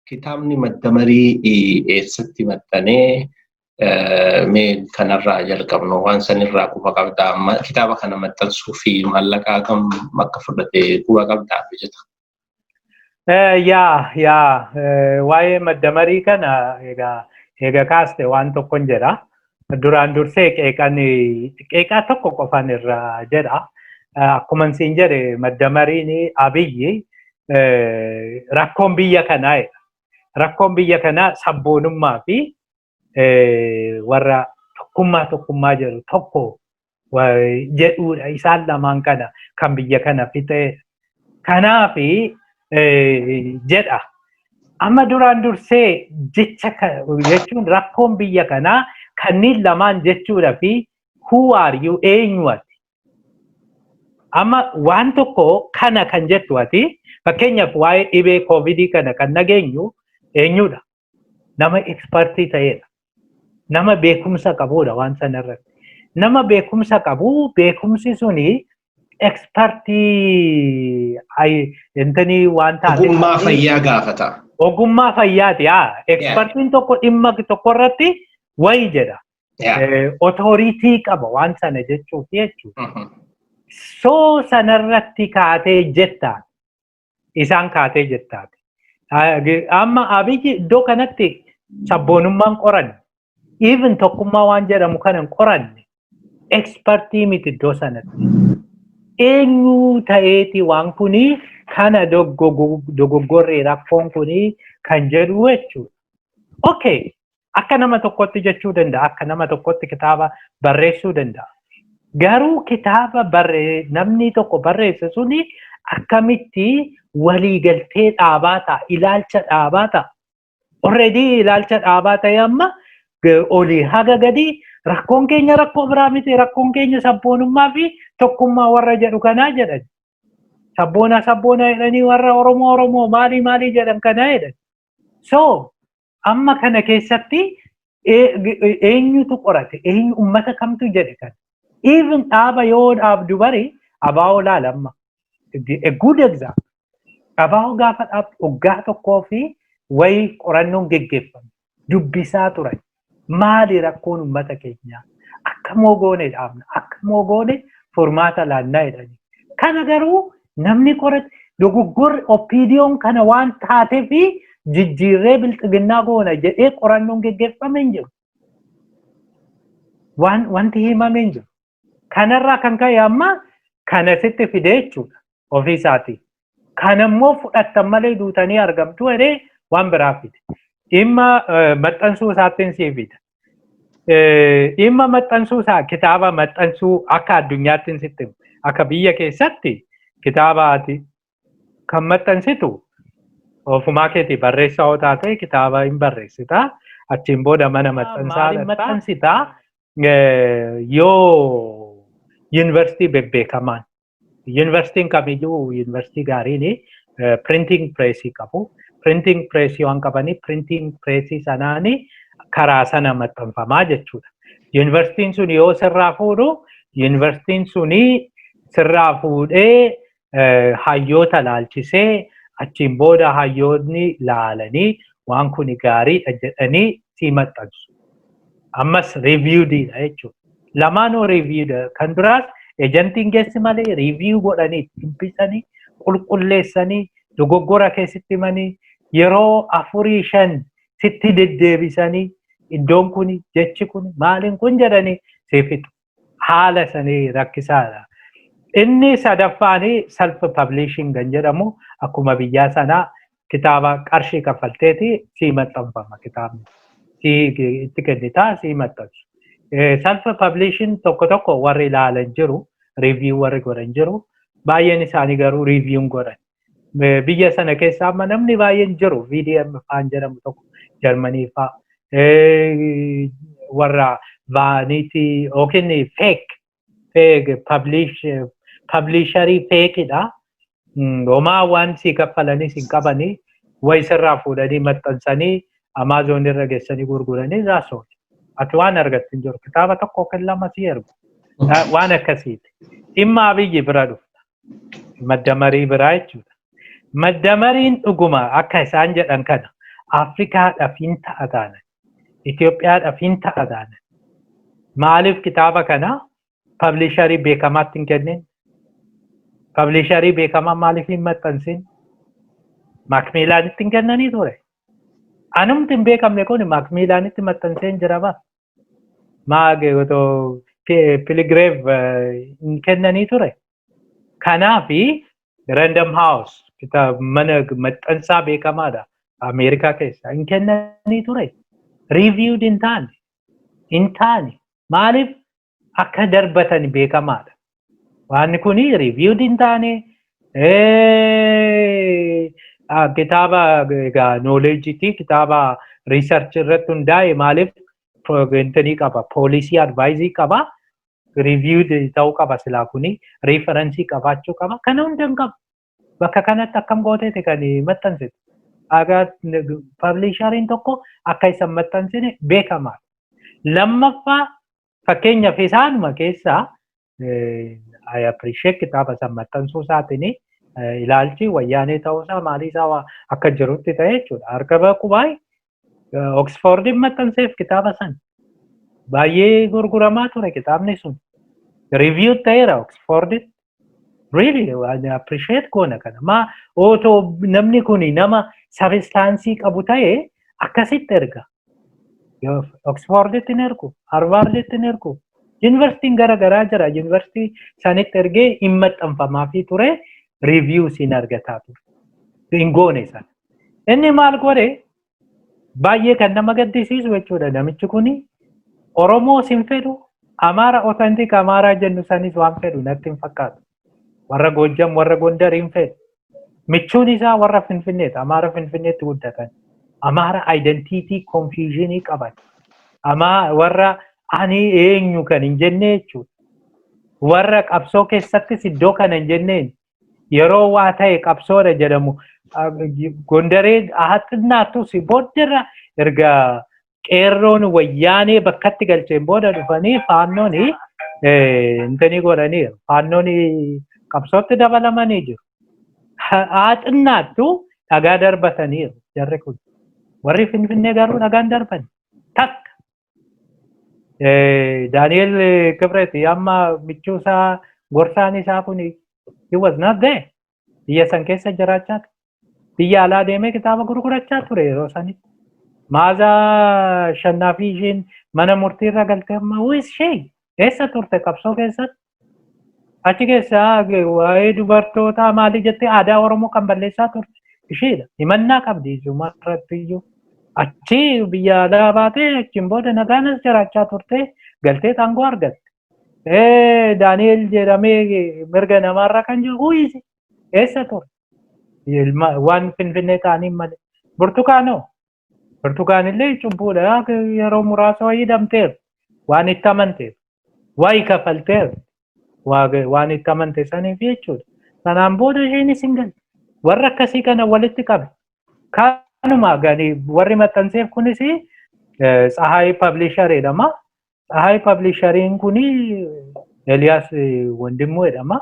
Kitaabni madda marii eessatti maxxanee mee kanarraa jalqabnu waan sanirraa quba qabdaa kitaaba kana maxxansuuf maallaqa kam akka fudhate quba qabdaa hojjeta. Yaa yaa waa'ee madda marii kana egaa eega kaaste waan tokkon jedha. Duraan dursee qeeqan qeeqaa tokko qofan irra jedha. Akkuman siin jedhe madda mariin abiyyi rakkoon biyya kanaa jedha. Rakkoon biyya kanaa sabboonummaa fi warra tokkummaa tokkummaa jedhu tokko jedhuudha isaan lamaan kana kan biyya kana fixee kanaaf jedha amma duraan dursee jecha jechuun rakkoon biyya kanaa kanneen lamaan jechuudha fi who are you eenyu ati amma waan tokko kana kan jettu ati fakkeenyaaf waa'ee dhibee koovidii kana kan nageenyu eenyudha nama ekspartii ta'edha. Nama beekumsa qabudha waan sana irratti. Nama beekumsa qabu beekumsi suni ekspartii intanii waan taate. Ogummaa fayyaa gaafata. Ogummaa fayyaati haa. Ekspartiin tokko dhimma tokko irratti wayi jedha. Otooriitii qaba waan sana jechuuf jechuudha. Soo sanarratti kaatee jettaan. isaan kaatee jirtaati. Amma abiyyi iddoo kanatti sabboonummaan qoranne even tokkummaa waan jedhamu kanan qoranne ekspertii miti iddoo sanatti. Eenyu ta'eeti waan kuni kana dogoggorri rakkoon kuni kan jedhu jechuudha. Okay, Akka nama tokkotti jechuu danda'a. Akka nama tokkotti kitaaba barreessuu danda'a. Garuu kitaaba barree namni tokko barreesse suni akkamitti waliigaltee dhaabaa ta'a, ilaalcha dhaabaa ta'a. Already ilaalcha dhaabaa ta'e amma g- olii haga gadi rakkoon keenya rakkoo biraa miti rakkoon keenya sabboonummaa fi tokkummaa warra jedhu kanaa jedhan. Sabboona sabboona jedhanii warra Oromoo Oromoo maalii maalii jedhan kanaa jedhan. So Amma kana keessatti eenyutu qorate eenyu ummata kamtu jedhe kan even dhaaba yoo dhaabdu bari abaa'oo laala amma a good example abaa'oo gaafa dhaabdu waggaa tokkoo fi wayii qorannoon geggeeffame dubbisaa turan maali rakkoon ummata keenyaa akka moogoone dhaabna akka moogoone furmaata laannaa jedhani kana garuu Namni qorate dogoggorri oppiidiyoon kana waan taatee fi jijjiirree bilxiginnaa goona jedhee qorannoon geggeeffame hin jiru. Waan wanti himame hin jiru. Kanarraa kan ka'e amma kana sitti fidee jechuudha ofii isaatii. Kana immoo fudhattan malee duutanii argamtu jedhee waan biraa fide. Dhimma maxxansuu isaattiin sii fida. Dhimma maxxansuu isaa kitaaba maxxansuu akka addunyaatti sitti akka biyya keessatti kitaaba ati kan maxxansitu ofumaa keetii barreessaa yoo taate kitaaba hin barreessita achiin booda mana maxxansaa maaliin dhaqxa. maxxansita yoo yuunivarsiitii bebbeekamaan Yuunivarsiitiin kamiyyuu yuunivarsiitii gaariin printing pireesii qabu. Printing pireesii waan qabanii printing pireesii sanaan karaa sana maxxanfamaa jechuudha. Yuunivarsiitiin sun yoo sirraa fuudhu yuunivarsiitiin sun sirraa fuudhee hayyoota laalchisee achiin booda hayyoonni laalanii waan kun gaariidha jedhanii sii maxxansu. ammas reviewed dha jechuudha. Lamaanuu reviewed kan duraas ejantiin keessi malee review godhanii dubbisanii qulqulleessanii dogoggora keessatti himanii yeroo afurii shan sitti deddeebisanii iddoon kun jechi kun maaliin kun jedhanii siif fixu. haala isanii rakkisaadha. Inni sadaffaan self publishing kan jedhamu akkuma biyyaa sanaa kitaaba qarshii kaffalteeti sii maxxanfama kitaabni. Sii itti kennitaa sii maxxansu. Self publishing tokko tokko warri ilaalan jiru, review warri godhan jiru. Baay'een isaanii garuu review'n godhan. biyya sana keessa amma namni baay'een jiru VDM faan jedhamu tokko Jarmanii faa warra vaaniitii yookiin feek feek pabliisharii feekidha. Homaa waan sii kaffalanis hin qabanii wayi sirraa fuudhanii maxxansanii Amaazoon irra geessanii gurguranii irraa sooti. Ati waan argattu hin jiru. Kitaaba tokko yookiin lama sii ergu. Waan akkasiiti. Dhimma abiyyi bira dhufta. madda marii biraa jechuudha. Madda mariin dhuguma akka isaan jedhan kana Afrikaadhaaf hin ta'a taana. Itoophiyaadhaaf hin ta'a taana. Maaliif kitaaba kana pablisharii beekamaatti hin kennin? Pablisharii beekamaa maaliif hin maxxansin? Maakmiilaanitti hin kennanii ture. Anumti hin beekamne kun maakmiilaanitti maxxansee hin jira ba. maag otoo Pi- piligireef eh, hin kennanii ture kanaafi random house kitaab mana maxxansaa beekamaadha ameerikaa keessaa hin kennanii ture reviewed hin taane hin taane maaliif akka darbatan beekamaadha Waan kun reviewed hin taane kitaaba egaa knowledge ti kitaaba research irratti hundaa'e maaliif intanii qaba poolisii advaayizii qaba reviewed ta'uu qaba silaa kuni referensii qabaachuu qaba kana hunda hin qabu. bakka kanatti akkam gooteeti kan maxxansite. Agaa pabliishariin tokko akka isan maxxansine beekamaadha. Lammaffaa fakkeenyaaf isaanuma keessaa I appreciate kitaaba san maxxansuu isaatiin ilaalchi wayyaanee ta'uusaa maaliisaa akka jirutti ta'e jechuudha. Harka baqubaay Oksfoordiin maxxanseef kitaaba san. Baay'ee gurguramaa ture kitaabni sun. Review ta'eera Oksfoorditti. Really appreciate goona kana. Maa otoo namni kun nama sabistaansii qabu ta'e akkasitti erga. Oksfoorditti hin ergu, Harvaarditti hin ergu. Yuunivarsiitiin gara garaa jira. Yuunivarsiitii isaanitti ergee hin maxxanfamaafii ture. Review siin argataa ture. Hin goone sana. Inni maal godhe baay'ee kan nama gaddisiisu jechuudha namichi kuni Oromoo sin fedhu Amaara otantik Amaaraa jennu sanis waan fedhu natti hin fakkaatu. Warra Goojjam warra Gondar hin fedhu. Michuun isaa warra Finfinneeti. Amaara Finfinneetti guddatan. Amaara identiitii konfiizhinii qaban. Amaa warra ani eenyu kan hin jenne jechuudha. Warra qabsoo keessattis iddoo kana hin jenneen yeroo waa ta'e qabsoodha jedhamu gondaree haa xinnaattus booddarra erga qeerroon wayyaanee bakkatti galcheen booda dhufanii faannoon intanii godhaniiru faannoon qabsootti dabalamanii jiru haa xinnaattu dhagaa darbataniiru jarri kun warri finfinnee garuu dhagaan darbani takka Daani'el Kibreeti amma michuu isaa gorsaan isaa kun he was not there. Biyya san keessa jiraachaa ture. Biyya alaa deemee kitaaba gurgurachaa ture yeroo sanitti. Maazaa shannaa fi ishiin mana murtii irra galtee amma who is she? Eessa turte qabsoo keessatti? Achi keessaa waa'ee dubartootaa maalii jettee aadaa Oromoo kan balleessaa turte isheedha. Himannaa qabdi isuma irratti iyyuu. Achi biyya alaa baatee achiin booda nagaanas jiraachaa turte galtee aangoo argatte. Daani'eel jedhamee mirga namaarra kan jiru huyiise eessa ture? Waan finfinnee ta'aniin malee. Burtukaanoo Birtukaanillee cubbuudha yeroo muraasa wayii hidhamteef waan itti amanteef wayi kafalteef waan itti amante saniif jechuudha. Sanaan booda isheenis hin galle. Warra akkasii kana walitti qabe. Kanuma gani warri maxxanseef kunis Tsahaay Pabliisharii jedhama. Tsahaay pablishariin kun Eliyaas Wandimmoo jedhama.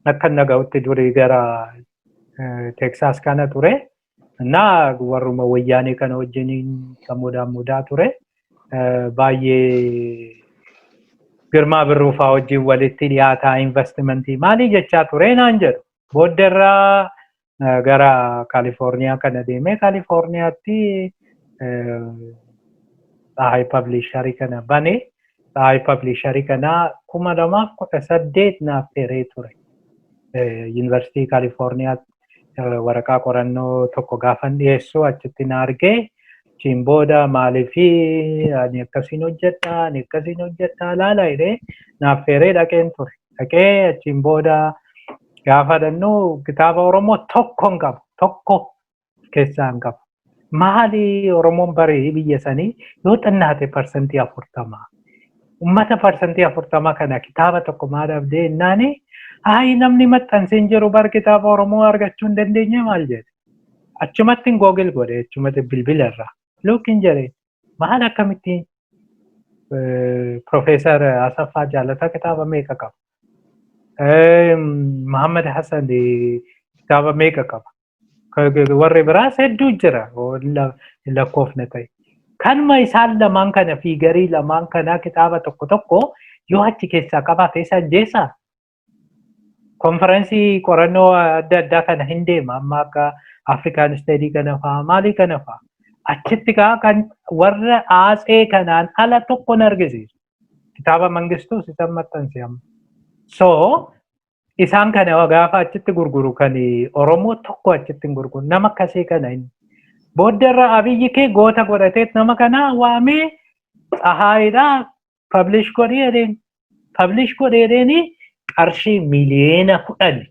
Akka inni dhaga'utti durii gara Teksaas kana ture. Innaa warruma wayyaanee kana wajjiniin kan mudaa mudaa ture. Baay'ee Girmaa Birruufaa wajjin walitti dhiyaataa investimentii maalii jechaa ture naan jedhu. Booddarraa gara Kaalifoorniyaa kana deemee Kaalifoorniyaatti Tsahaay Pabliisharii kana bane. Tsahaay Pabliisharii kana kuma lamaaf kudha saddeet naaf feeree ture. Yuunivarsiitii Kaalifoorniyaatti waraqaa qorannoo tokko gaafan dhiyeessu achitti na argee achiin booda maaliifi ani akkasiin hojjedha ani akkasiin hojjedha laala jedhee naaf feeree dhaqeen ture. Dhaqee achiin booda Gaafa dhannu kitaaba Oromoo tokko hin qabu. Tokko of keessaa hin qabu. Maali Oromoon barii biyya sanii yoo xinnaate parsantii afurtama. Ummata parsantii afurtama kana kitaaba tokko maa dhabdee innaani ayi namni maxxansee hin jiru bar kitaaba Oromoo argachuu hin dandeenye maal jedhe. Achumatti hin googil godhe achumatti bilbila irraa. Look hin jedhe Maal akkamitti Profeesar Asaffaa Jaalataa kitaaba meeqa qaba? Muhammad Hassan kitaaba meeqa qaba? Warri biraas hedduu jira lakkoofne ta'e. Kanuma isaan lamaan kana fiigarii lamaan kanaa kitaaba tokko tokko yoo achi keessaa qabaate isa ajjeesaa? konferensii qorannoo adda addaa kana hin deema amma akka afrikaan isteedii kana fa'aa maalii kana fa'aa achitti kaa kan warra aatsee kanaan ala tokko hin argisiisu kitaaba mangistuu sitan maxxanse amma so isaan kana gaafa achitti gurguru kan oromoo tokko achitti hin gurguru nama akkasii kana hin booddarra abiyyi kee goota godhatee nama kana waamee xahaayiidha publish godhi jedheen publish godhi jedheeni qarshii miliyeena kudhan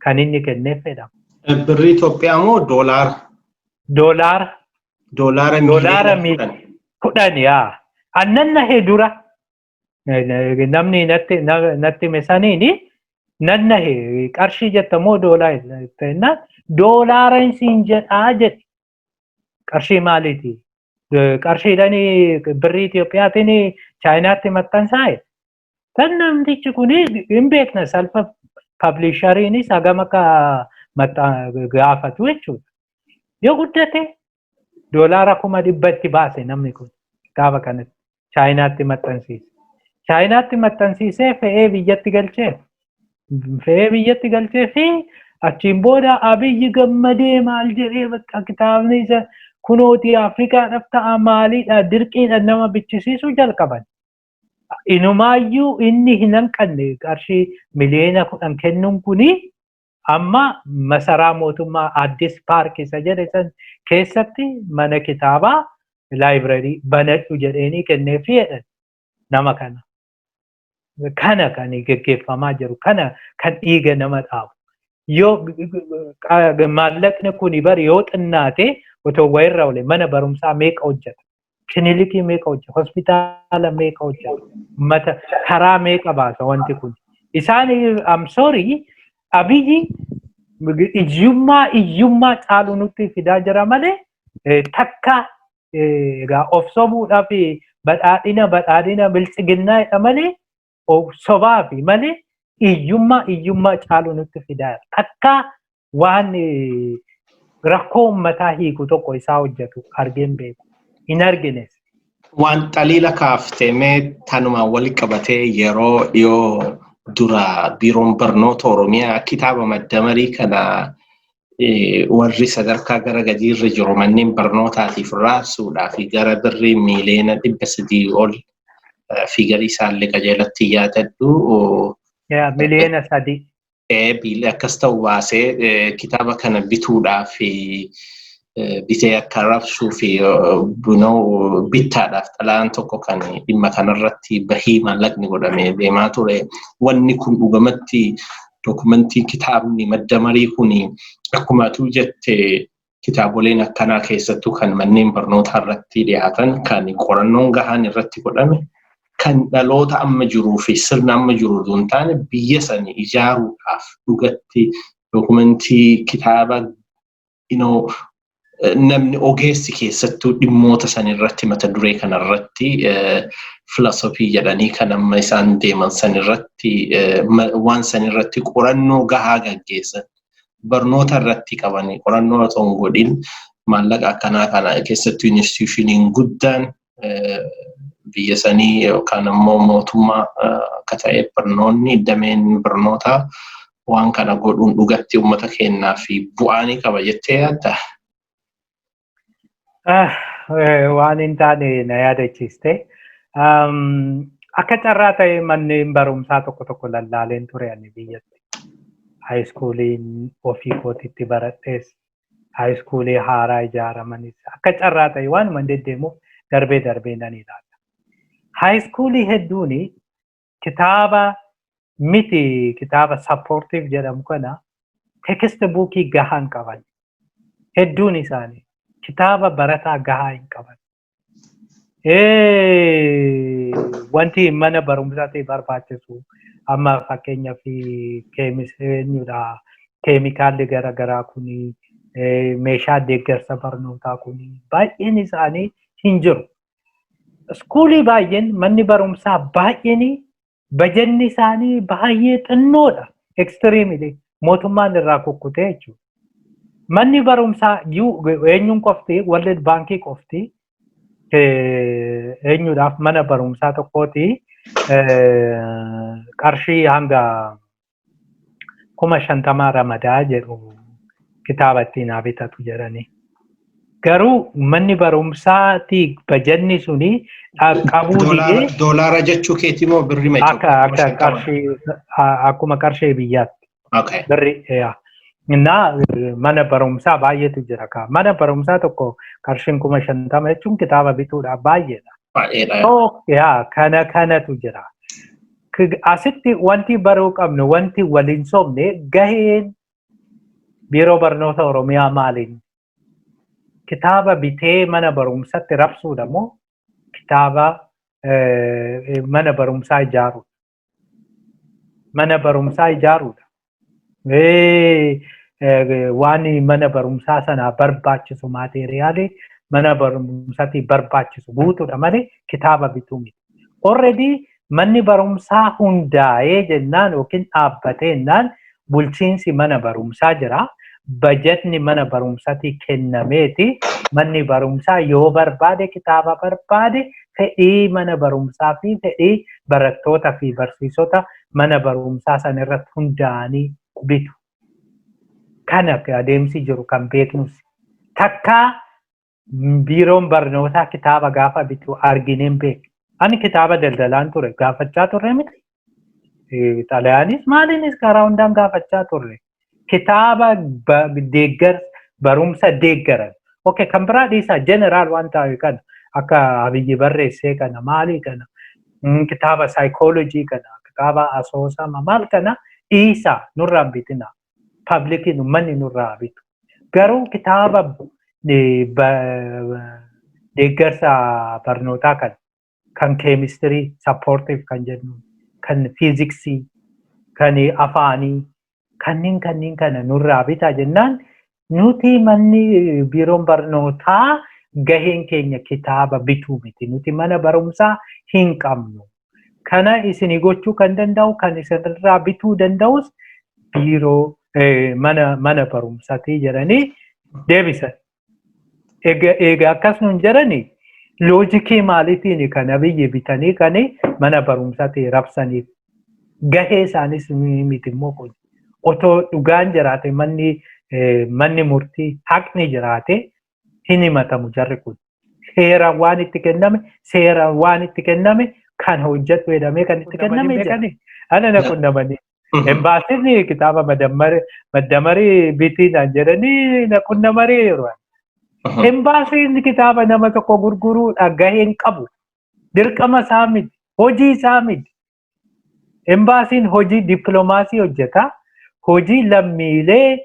kan inni kenneef jedhama. Birrii Itoophiyaa moo doolaara? Doolaara. Doolaara Doolaara miliyeena kudhan. kudhan yaa. Annan nahe dura namni natti na- natti hime saniini nan nahe qarshii jetta moo doolaa jennaan doolaara isiin jedhaa jedhe qarshii maaliiti qarshiidhaan birrii Itoophiyaatiin chaayinaatti maxxansaa'e kan namtichi kun hin beekna salfa pablishariinis hagam akka gaafatu jechuudha. Yoo guddate doolaara kuma dhibba itti baase namni kun kitaaba kanatti. Chaayinaatti maxxansiise. Chaayinaatti maxxansiisee fe'ee biyyatti galchee fe'ee biyyatti galchee fi achiin booda abiyyi gammadee maal jedhee bakka kitaabni isa kunooti Afrikaadhaaf ta'a maaliidha dirqiidha nama bichisiisuu jalqaban. Inumaayyuu inni hin hanqanne qarshii miliyoona kudhan kennuun kuni Amma masaraa mootummaa Addis Paark isa jedhe san keessatti mana kitaabaa laayibirarii banadhu jedheenii kenneefi jedhan nama kana. Kana kan geggeeffamaa jiru kana kan dhiiga nama dhaabu. Yoo maallaqni kuni bari yoo xinnaate otoo wayirra oole mana barumsaa meeqa hojjeta kinilikii meeqa hojja hospitaala meeqa hojja mata karaa meeqa baasa wanti kun isaan am sorry abiyyi iyyummaa iyyummaa caalu nutti fidaa jira malee takka egaa of sobuudhaaf badhaadhina badhaadhina biltsiginnaa jedha malee sobaa fi malee iyyummaa iyyummaa caaluu nutti fidaa akka waan rakkoo uummataa hiiku tokko isaa hojjetu argeen beeku hin argines. Waan xaliila kaaftee mee tanumaan wal qabatee yeroo dhiyoo dura biiroon barnoota Oromiyaa kitaaba maddamarii kana warri sadarkaa gara gadiirra jiru manneen barnootaatiif raabsuudhaa fi gara birrii miiliyoona dhibba sadii ol fi galii isaallee qajeelatti yaadadhu. Miliyoona sadii. Biilli akkas ta'u baasee kitaaba kana bituudhaa fi bitee akka raabsuu fi bittaadhaaf xalaan tokko kan dhimma kanarratti bahii maallaqni godhamee deemaa ture. Wanni kun dhugamatti dokumentii kitaabni madda marii kun akkuma atuu jette kitaaboleen akkanaa keessattuu kan manneen barnootaa irratti dhiyaatan kan qorannoon gahaan irratti godhame kan dhaloota amma jiruu fi sirna amma jiru utuu hin taane biyya sani ijaaruudhaaf dhugatti dokumentii kitaaba namni ogeessi keessattuu dhimmoota san irratti mata duree kana irratti filasofii jedhanii kan amma isaan deeman san irratti waan san irratti qorannoo gahaa gaggeessan barnoota irratti qabanii qorannoo otoo hin godhin maallaqa akkanaa kana keessattuu institushiniin guddaan biyya sanii yookaan immoo mootummaa akka ta'e barnoonni dameen barnootaa waan kana godhuun dhugatti uummata keenyaa fi bu'aa ni qaba jettee yaadda? Waan hin taane na yaadachiiste. Akka carraa ta'e manneen barumsaa tokko tokko lallaaleen ture ani biyyatti. Haayiskuuliin ofii kootitti baradhees haayiskuulii haaraa ijaaramanis akka carraa ta'e waanuma deddeemuuf darbee darbee nan ilaala. Haayiskuulii hedduun kitaaba miti kitaaba sappoortiif jedhamu kana tekiste buukii gahaa hin qaban. Hedduun isaanii kitaaba barataa gahaa hin qaban. wanti mana barumsaatti barbaachisu amma fakkeenyaaf keemisiidha keemikaalli garaagaraa kun meeshaa deeggarsa barnootaa kun baay'een isaanii hin jiru. Iskuulii baay'een manni barumsaa baay'een bajanni isaanii baay'ee xinnoodha ekstiriimili mootummaan irraa kukkutee jechuudha. Manni barumsaa eenyuun qofti World Baankii qofti eenyuudhaaf mana barumsaa tokkooti qarshii hanga kuma shantamaa ramadaa jedhu kitaaba ittiin haa bitatu jedhanii. Garuu manni barumsaati bajanni suni dhaqqabuu didee Doolaara jechuu keetii moo birri ma akka akka qarshii a- akkuma qarshii biyyaatti Okay. birri yaa. Innaa eh, mana barumsaa baay'eetu jira kaa. Mana barumsaa tokko qarshiin kuma shantama jechuun kitaaba bituudhaaf baay'eedha. Baay'eedha. So, yaa kana kanatu jira. Asitti wanti baruu qabnu wanti waliin sobne gaheen biiroo barnoota Oromiyaa maaliin kitaaba bitee mana barumsatti rabsuudha moo kitaaba mana barumsaa ijaaruudha. Mana barumsaa ijaaruudha. waan mana barumsaa sanaa barbaachisu maateeriyaalii mana barumsaatii barbaachisu guutuudha malee kitaaba bituu miti. Already manni barumsaa hundaa'ee jennaan yookiin dhaabbatee jennaan bulchiinsi mana barumsaa jira. Bajatni mana barumsaatii kennameeti manni barumsaa yoo barbaade kitaaba barbaade fedhii mana barumsaa fi fedhii barattoota fi barsiisota mana barumsaa sana irratti hundaa'anii bitu. Kana adeemsi jiru kan beeknus takkaa biiroon barnootaa kitaaba gaafa bitu argineen beeku. Ani kitaaba daldalaan ture gaafachaa turre miti. Xalayaanis maaliinis karaa hundaan gaafachaa turre. kitaaba deeggar barumsa deeggaran ok kan biraa dhiisaa jeneraal waan ta'e kana akka abiyyi barreessee kana maalii kana kitaaba saayikoolojii kana kitaaba asoosama maal kana dhiisaa nurraa bitina pablikiin ummanni nurraa bitu garuu kitaaba deeggarsa barnootaa kana kan keemistirii sappoortiif kan jennu kan fiiziksii kan afaanii kanneen kanneen kana nurraa bitaa jennaan nuti manni biiroon barnootaa gaheen keenya kitaaba bituu miti nuti mana barumsaa hin qabnu kana isinii gochuu kan danda'u kan isinirraa bituu danda'us biiroo mana barumsatii jedhanii deebisan Egaa egaa akkas nuun jedhani loojikii maalitiin kan abiyyi bitanii kan mana barumsaatii rabsaniif gahee isaaniis ni miti immoo kun otoo dhugaan jiraate manni eh, manni murtii haqni jiraate hin himatamu jarri kun seeraan waan itti kenname seeraan waan itti kenname kan hojjedhu jedhamee kan itti Qunnamanii kenname beekan? jedhani ana na qunnamanii Embaasiin kitaaba maddamarii bitii naan jedhanii na qunnamanii yeroo. Embaasiin kitaaba nama tokko gurguruu dhagaheen qabu. Dirqama isaa miti. Hojii isaa miti. Embaasiin hojii dippiloomaasii hojjeta. Hojii lammiilee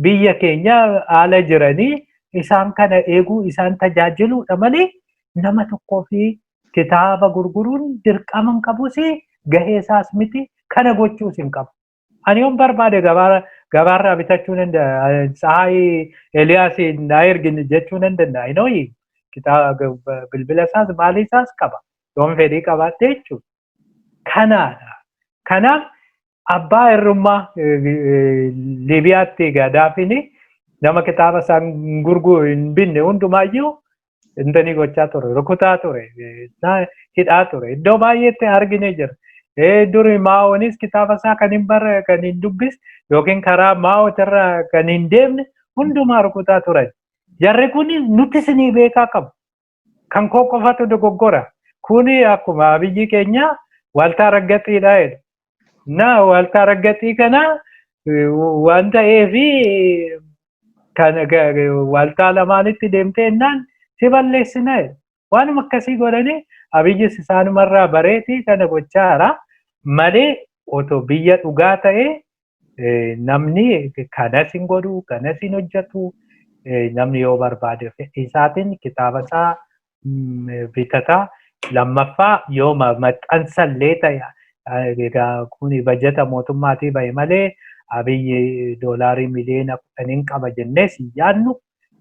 biyya keenya haala jiranii isaan kana eeguu isaan tajaajiluudha malee nama tokkoo fi Kitaaba gurguruun dirqama hin qabus, gahee isaas miti, kana gochuus hin qabu. Ani yoon barbaade gabaara gabaarraa bitachuu nan danda'a. Tsahaay Eliyaas naa ergi jechuu nan danda'a. Inooyi kitaaba bilbila isaas maalii isaas qaba. Yoon fedhii qabaadhe jechuudha. kanaadha. Kanaaf abbaa irrummaa Libiyaatti Gaadaafiin nama kitaaba isaan gurguru hin binne hundumaayyuu intanii gochaa ture rukutaa ture hidhaa ture iddoo baay'eetti argine jira. Duri maa'oonis kitaaba isaa kan hin barre kan hin dubbis yookiin karaa maa'ootirra kan hin deemne hundumaa rukutaa turan. Jarri kun nutti isinii beekaa qabu. Kan koo qofatu dogoggora. Kuni akkuma abiyyi keenya waaltaa raggaxiidha jedha. Na waaltaa raggaxii kana waan ta'eef waaltaa lamaanitti deemtee innaan si balleessina jedha. Waanuma akkasii godhanii abiyyis isaanumarraa bareetii kana gochaa jira. Malee otoo biyya dhugaa ta'ee namni kanas hin godhu kanas hin hojjetu namni yoo barbaade fedhii isaatiin kitaaba isaa bitata lammaffaa yoo maxxansa illee ta'e egaa kun bajata mootummaatii ba'e malee abiyyi doolaarii miliyoona kudhaniin qaba jennee si yaadnu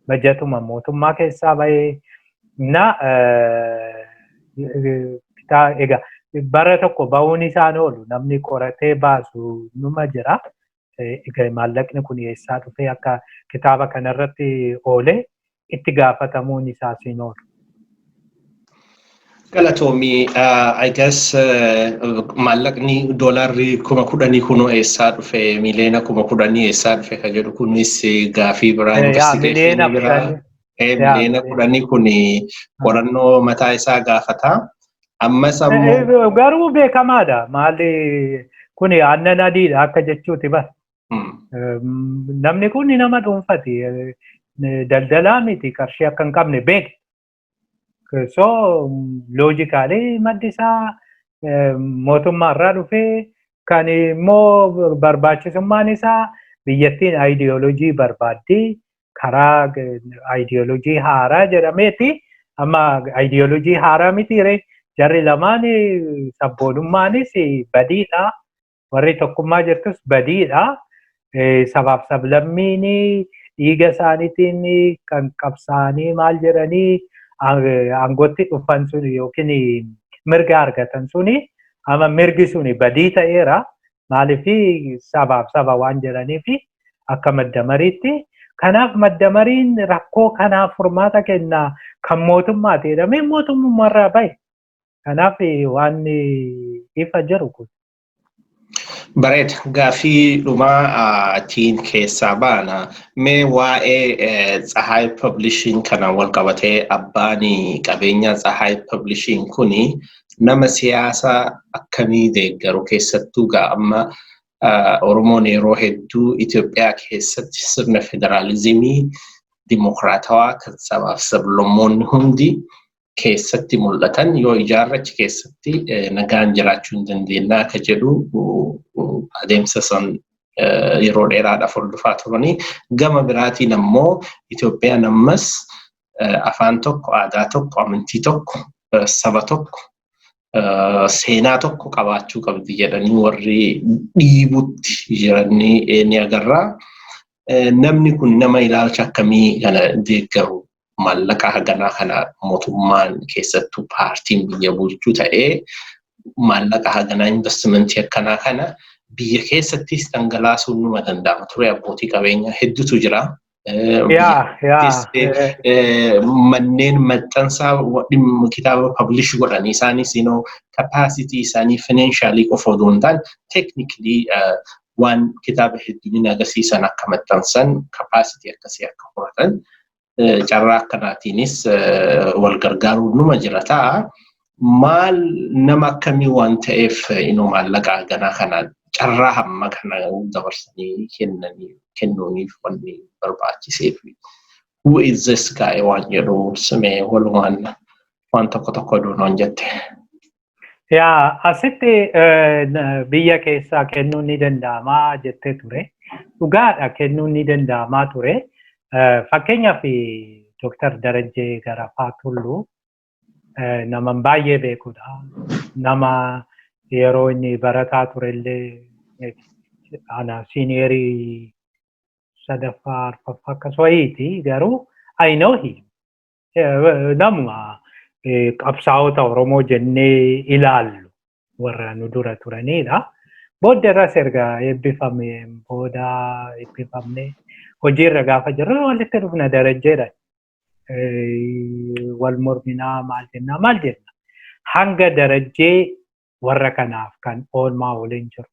bajatuma mootummaa keessaa bahee na egaa bara tokko bahuun isaan oolu namni qoratee baasu numa jira. Egaa maallaqni kun eessaa dhufee akka kitaaba kanarratti oolee itti gaafatamuun isaas hin oolu. Galatoomii I guess maallaqni doolaarri kuma kudhanii kunoo eessaa dhufe miliyoona kuma kudhanii eessaa dhufe ka jedhu kunis gaafii biraa investigeeshinii biraa miliyoona kudhanii kun qorannoo mataa isaa gaafata. Ammas ammoo. Garuu beekamaadha maali kun aannan adiidha akka jechuuti bar. Namni kun nama dhuunfati daldalaa miti qarshii akka hin qabne beekti. So loojikaalee maddi isaa mootummaa irraa dhufee kan immoo barbaachisummaan isaa biyyattiin aayidiyoolojii barbaaddii karaa aayidiyoolojii haaraa jedhameeti amma aayidiyoolojii haaraa mitiire jarri lamaan sabboonummaanis badiidha warri tokkummaa jirtus badiidha. Sabaaf sablammiin dhiiga isaaniitiin kan qabsaa'anii maal jedhanii aangootti dhufan sun yookiin mirga argatan suni amma mirgi suni badii ta'eera. Maaliif sabaaf saba waan jedhaniif akka madda mariitti. Kanaaf madda mariin rakkoo kanaaf furmaata kenna kan mootummaati jedhamee mootummaarraa bahe. Kanaaf waan ifa jiru kun. Bareeda. Gaafii dhumaa ittiin keessaa baana. Mee waa'ee Tsahaay Publishing kanaan wal qabatee abbaan qabeenyaa Tsahaay Publishing kun nama siyaasa akkamii deeggaru keessattuu gaa amma Oromoon yeroo hedduu Itoophiyaa keessatti sirna federaalizimii dimokiraatawaa kan sabaaf sablammoonni hundi keessatti mul'atan yoo ijaarre achi keessatti nagaan jiraachuu hin dandeenye akka jedhu adeemsa san yeroo dheeraadhaaf hordofaa turanii gama biraatiin ammoo Itoophiyaan ammas afaan tokko aadaa tokko amantii tokko saba tokko seenaa tokko qabaachuu qabdi jedhanii warri dhiibutti jiranii ni agarra. Namni kun nama ilaalcha akkamii kana deeggaru maallaqa haganaa kana mootummaan keessattuu paartiin biyya bulchuu ta'ee maallaqa haganaa investimentii akkanaa kana biyya keessattis dhangalaasuun numa danda'ama ture abbootii qabeenyaa hedduutu jira. Manneen maxxansaa dhimma kitaaba pablish godhan isaanis kapaasitii isaanii finaanshaalii qofa odoo hin taane teeknikilii waan kitaaba hedduminaa agarsiisan akka maxxansan kapaasitii akkasii akka horatan carraa akkanaatiinis wal gargaaruun numa jira ta'a. Maal nama akkamii waan ta'eef maallaqa ganaa kana carraa hamma kana dabarsanii kennanii kennuuniif wanni barbaachiseef. Who is this guy waan jedhu simee walumaan waan tokko tokko duunoon jette. Yaa asitti biyya keessaa kennuun ni danda'amaa jettee ture. Dhugaadha kennuun ni danda'amaa ture. Fakkeenyaaf Dooktar Darajjee Garafaa Tulluu nama baay'ee beekudha. Nama yeroo inni barataa turellee ana siiniyeerii sadaffaa arfaffaa akkas wayiiti garuu I know him. namuma qabsaa'ota Oromoo jennee ilaallu warra nu dura turanidha. Booda irras erga eebbifame booda eebbifamne hojiirra gaafa jirru walitti dhufna darajjeedha. Wal morminaa maal jennaa maal jenna. Hanga darajjee warra kanaaf kan oolmaa waliin jiru.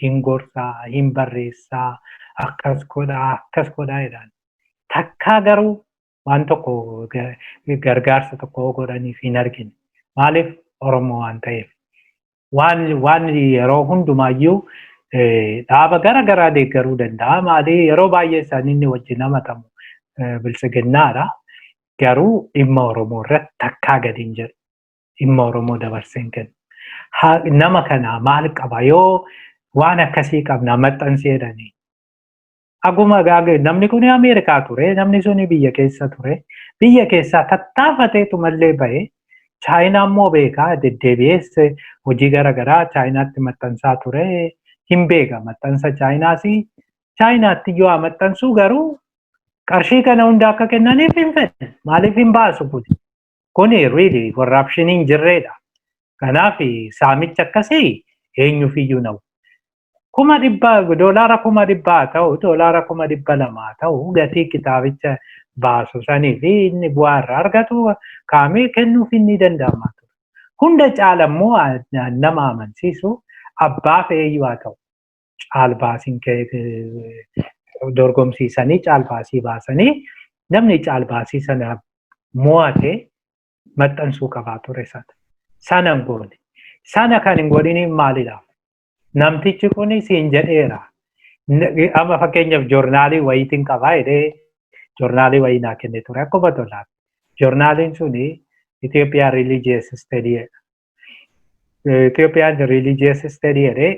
Hin gorsaa, hin barreessaa, akkas godhaa, akkas godhaa jedhaan. Takkaa garuu waan tokko gargaarsa tokko godhaniif hin argine. Maaliif Oromoo waan ta'eef. Waan yeroo hundumaayyuu dhaaba gara garaa deeggaruu danda'a. Maali yeroo baay'ee isaanii inni wajjin hamatamu biltsiginnaadha. Garuu dhimma Oromoo irratti takkaa gadi hin jedhu. Dhimma Oromoo dabarsee hin kennu. Nama kana maal qaba yoo waan akkasii qabna maxxansee jedhanii Aguma gaage namni kun Ameerikaa ture, namni sun biyya keessa ture. Biyya keessaa tattaafateetu mallee bahe. Chaayinaa immoo beekaa deddeebi'ees hojii gara garaa Chaayinaatti maxxansaa ture. Hin beeka maxxansa Chaayinaas. Chaayinaatti iyyuu haa maxxansuu garuu qarshii kana hunda akka kennaniif hin fedhe. Maaliif hin baasu kun? Kun really corruption hin jirreedha. Kanaaf saamicha akkasii eenyuuf iyyuu na'u. Kuma dhibba doolaara kuma dhibba haa ta'u doolaara kuma dhibba lama haa ta'u gatii kitaabicha baasu sanii fi inni bu'aa irraa argatu kaamee kennuuf inni danda'ama ture. Hunda caala immoo nama amansiisu abbaaf eeyyuu haa ta'u. caalbaasiin dorgomsiisanii caalbaasii baasanii namni caalbaasii sana mo'ate maxxansuu qabaa ture sana. Sana hin goone. Sana kan hin godhiniif maalidha? Namtichi kun siin jedheera. Amma fakkeenyaaf joornaalii wayiitiin qabaa jedhee joornaalii wayii naa kennee ture akkuma tolaan. Joornaaliin suni Itoophiyaa Religious Study Itoophiyaan religious study jedhee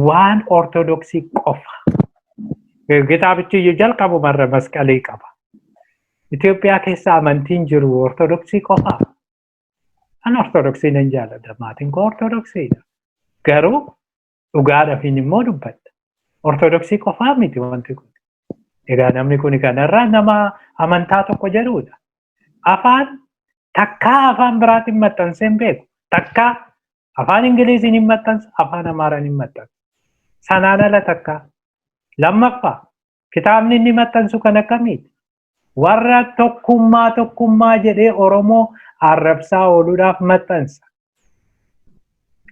waan ortodoksii qofa. Kitaabichi iyyuu jalqabumarra masqalii qaba. Itoophiyaa keessa amantiin jiru ortodoksii qofa. An ortodoksii nan jaalladha. Maatiin koo ortodoksiidha. Garuu dhugaadhafiin immoo dubbadha. Ortodoksii qofaa miti wanti kun. Egaa namni kun kanarraa nama amantaa tokko jedhudha. Afaan takkaa afaan biraatiin maxxansee hin beeku. Takkaa afaan Ingiliziin hin maxxansa, afaan Amaaraan hin maxxansa. Sanaan ala takkaa. Lammaffaa kitaabni inni maxxansu kan akkamiiti? warra tokkummaa tokkummaa jedhee Oromoo arrabsaa ooluudhaaf maxxansa.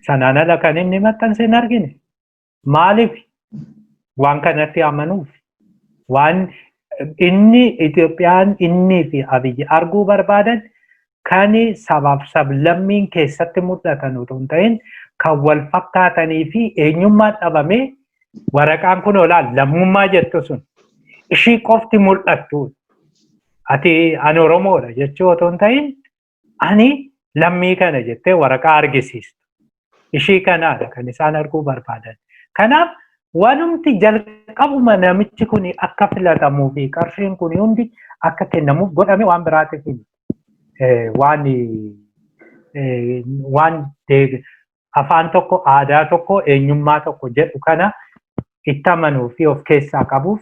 Sanaan ala kan inni maxxanse hin argine. Maaliif? Waan kanatti amanuuf. Waan inni Itoophiyaan innii fi Abiyyi arguu barbaadan kan sabaaf sablammiin keessatti mul'atan utuu hin ta'in kan wal fakkaatanii fi eenyummaan dhabamee waraqaan kun olaal lammummaa jettu sun ishii qofti mul'attu ati ani oromoodha jechuu otoo hin ta'in ani lammii kana jettee waraqaa argisiistu ishii kanaadha kan isaan arguu barbaadan. Kanaaf wanumti jalqabuma namichi kun akka filatamuu fi qarshiin kun hundi akka kennamuuf godhame waan biraatiif waan waan afaan tokko aadaa tokko eenyummaa tokko jedhu kana itti amanuu fi of keessaa qabuuf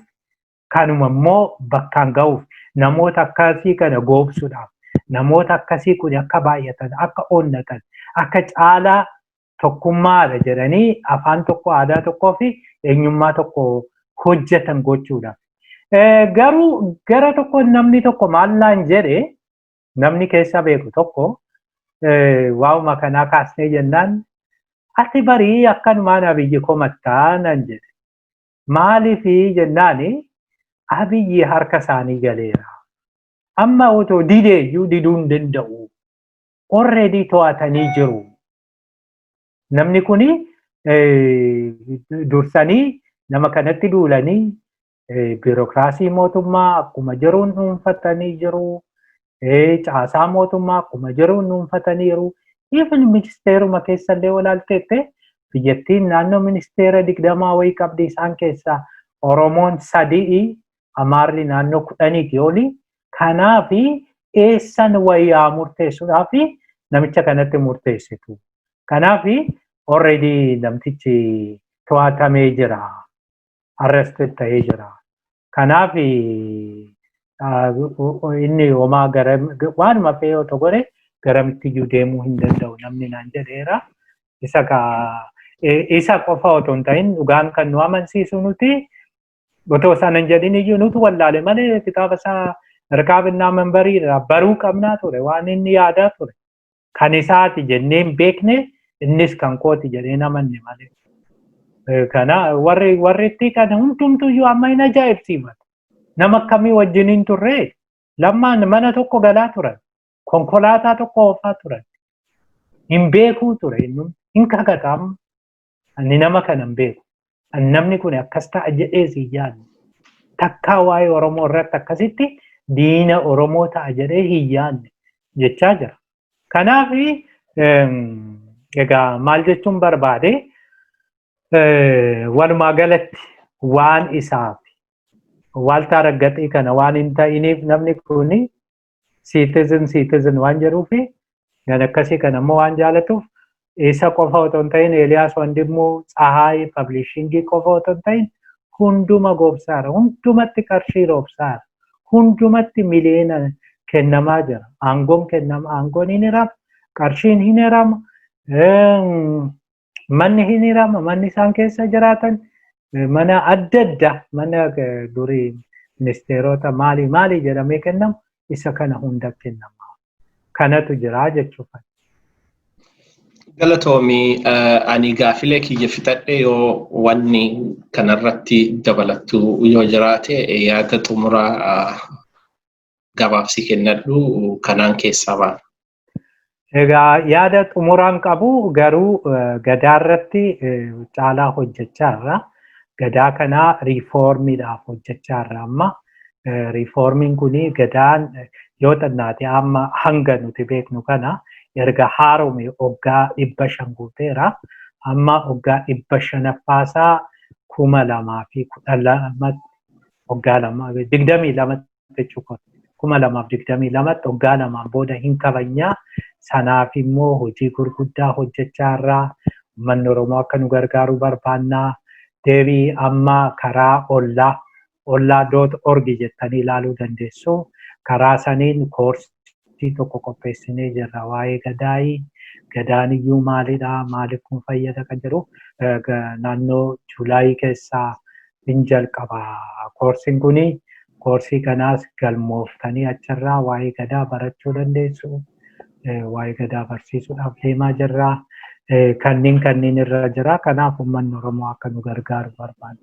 kanuma immoo bakkaan ga'uuf namoota akkasii kana goobsuudhaaf namoota akkasii kun akka baay'atan akka onnatan akka caalaa tokkummaadha jedhanii afaan tokko aadaa tokkoo fi eenyummaa tokko hojjetan gochuudhaaf. Garuu gara tokko namni tokko maallaan jedhe namni keessa beeku tokko waa'uma kanaa kaasnee jennaan ati barii akkanumaan abiyyi komattaa nan jedhe. Maalifi jennaani Abiyyi harka isaanii galeera. Amma otoo didee iyyuu diduu hin danda'u. Already to'atanii jiru. Namni kuni dursanii nama kanatti duulanii biirokiraasii mootummaa akkuma jiruun dhuunfatanii jiru. caasaa mootummaa akkuma jiruun dhuunfataniiru. Even ministeeruma keessa illee walaalteette biyyattiin naannoo ministeera digdamaa wayii qabdi isaan keessaa Oromoon sadi'i Amaarri naannoo kudhaniiti oli. Kanaaf eessan wayyaa murteessuudhaaf namicha kanatti murteessitu. Kanaaf already namtichi to'atamee jira. arrested ta'ee jira. Kanaaf inni homaa gara waanuma fe'ee otoo godhe garamitti iyyuu deemuu hin danda'u namni naan jedheera. Isa ka isa qofa otoo hin ta'in dhugaan kan nu amansiisu nuti otoo sana hin jedhin iyyuu nuti wallaale malee kitaaba isaa Rikaabinaa Manbarii irraa baruu qabnaa ture waan inni yaadaa ture. kan isaati jennee hin beekne innis kan kooti jedhee hin amanne malee. Eh, Kana warri warri itti kan hundumtuyyuu amma hin ajaa'ibsiifatu. Nama akkamii wajjin hin turre lammaan mana tokko galaa turan. Konkolaataa tokko oofaa turan. Hin beekuu ture innumti. Hin kakata amma. Ani nama kana hin beeku. Ani namni kun akkas ta'a jedhees hin yaadne. Takkaa waa'ee Oromoo irratti akkasitti diina Oromoo ta'a jedhee hin yaadne jechaa jira. Kanaaf egaa maal jechuun barbaade walumaa galatti waan isaaf waaltaa raggaxii kana waan hin ta'iniif namni kun citizen citizen waan jedhuu fi gan akkasii kan ammoo waan jaalatuuf isa qofa otoo hin ta'in Eeliyaas Wandimmuu Tsahaay Pablishingii qofa otoo hin ta'in hunduma goobsaara hundumatti qarshii roobsaara hundumatti miliyoona kennamaa jira aangoon kennama aangoon hin hiramu qarshiin hin hiramu manni hin hirama manni isaan keessa jiraatan mana adda addaa mana durii ministeerota maalii maalii jedhamee kennamu isa kana hunda kennama kanatu jira jechuudha. Galatoomii ani gaafilee kiyya fixadhe yoo wanni kanarratti dabalattu yoo jiraate yaada xumuraa gabaabsi kennadhu kanaan keessaa baana. Egaa yaada xumuraan qabu garuu gadaa irratti caalaa hojjechaa irra. Gadaa kanaa riifoormiidhaaf hojjechaa irra amma. Riifoormiin kun gadaan yoo xinnaate amma hanga nuti beeknu kana erga haarome oggaa dhibba shan guuteera. Amma oggaa dhibba shanaffaasaa kuma lamaa fi kudha lamatti oggaa lama digdamii lamatti jechuu kooti. 2022tti waggaa lamaan booda hin kabajnaa sanaaf immoo hojii gurguddaa hojjechaa irraa ummanni Oromoo akka nu gargaaruu barbaannaa deebii amma karaa ollaa ollaa doot orgi jettanii ilaaluu dandeessu karaa saniin koorsii tokko qopheessinee jirra waa'ee gadaayii gadaan iyyuu maalidha maaliif kun fayyada kan jedhu naannoo juulaayii keessaa hin jalqaba. Koorsiin kun koorsii kanaas galmooftanii achirraa waa'ee gadaa barachuu dandeessu. Waa'ee gadaa barsiisuudhaaf deemaa jirra. Kanneen kanneen irra jira. Kanaaf uummanni Oromoo akka nu gargaaru barbaanna.